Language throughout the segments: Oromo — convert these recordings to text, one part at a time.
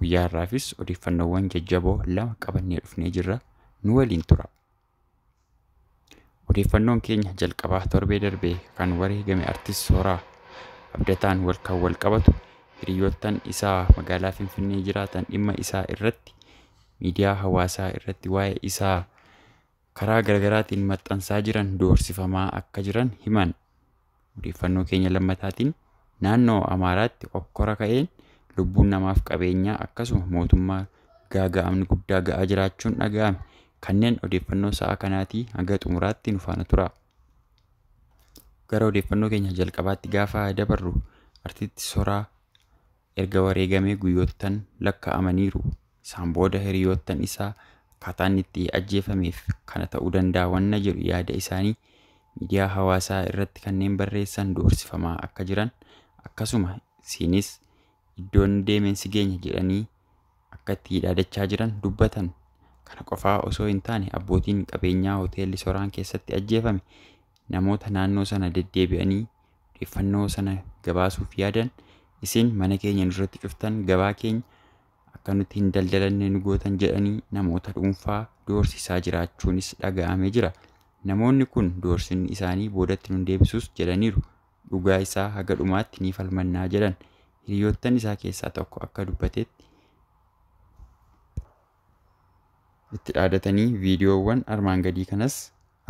Guyyaa har'aafis odeeffannoowwan jajjaboo lama qabannee dhufnee jirra. Nu waliin tura. Odeeffannoon keenya jalqabaa torbee darbee kan wareegame artist Sooraa Abdataan wal kan wal qabatu hiriyoottan isaa magaalaa Finfinnee jiraatan dhimma isaa irratti miidiyaa hawaasaa irratti waa'ee isaa karaa garaagaraatiin maxxansaa jiran doorsifamaa akka jiran himan. Odeeffannoo keenya lammataatiin naannoo Amaaraatti okkora ka'een lubbuun namaaf qabeenyaa akkasuma mootummaa gaaga'amni guddaa ga'aa jiraachuun dhaga'ame. Kanneen odeeffannoo sa'a kanaatii hanga xumuraatti nu faana turaa. Gara odeeffannoo keenya jalqabaatti gaafa dabarru artiitti soraa Erga wareegamee guyyoottan lakka'amaniiru. Isaan booda hiriyoottan isaa akkaataa inni itti ajjeefameef kana ta'uu danda'a wanna jedhu yaada isaanii miidiyaa hawaasaa irratti kanneen barreessan doorsifamaa akka jiran akkasuma siinis iddoo inni deemeen si geenya jedhanii akka itti dhaadachaa jiran dubbatan. Kana qofaa osoo hin taane abbootiin qabeenyaa hoteelli soraan keessatti ajjeefame namoota naannoo sana deddeebi'anii odeeffannoo sana gabaasuuf yaadan isin mana keenya nurratti cuftan gabaa keenya akka nuti hin daldalanne nu gootan jedhanii namoota dhuunfaa doorsisaa jiraachuunis dhaga'amee jira. Namoonni kun doorsinni isaanii boodatti nun deebisus jedhaniiru. Dhugaa isaa haga dhumaatti ni falmannaa jedhan. Hiriyoottan isaa keessaa tokko akka dubbatetti itti dhaadatanii viidiyoowwan armaan gadii kanas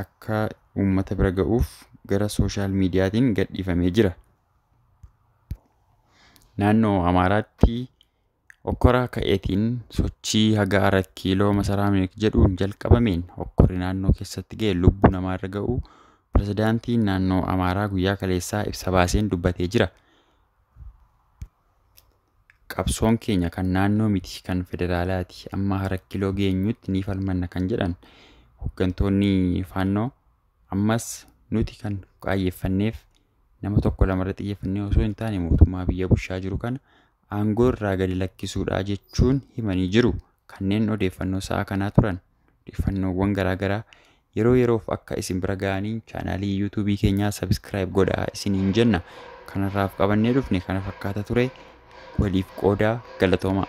akka uummata bira ga'uuf gara sooshaal miidiyaatiin gadhiifamee jira. Naannoo Amaaraatti okkora ka'eetiin sochii haga arat kiiloo masaraa minik jedhuun jalqabameen okkorri naannoo keessatti ga'e lubbuu namaa irra ga'uu pirezidaantiin naannoo Amaaraa guyyaa kaleessaa ibsa baaseen dubbatee jira. Qabsoon keenya kan naannoo miti kan federaalaati amma harakkiloo geenyutti ni falmanna kan jedhan hoggantoonni faannoo ammas nuti kan qaayyeeffanneef nama tokko lamarra xiyyeeffannee osoo hin taane mootummaa biyya bushaa jiru kana aangoo irraa gadi lakkisuudhaa jechuun himanii jiru kanneen odeeffannoo sa'a kanaa turan. odeeffannoowwan garaa garaa yeroo yeroof akka isin bira ga'aniin chaanaalii yuutuubii keenyaa sabiskiraayib godhaa isiniin jenna kanarraaf qabannee dhufne kana fakkaata ture waliif qoodaa galatoomaa.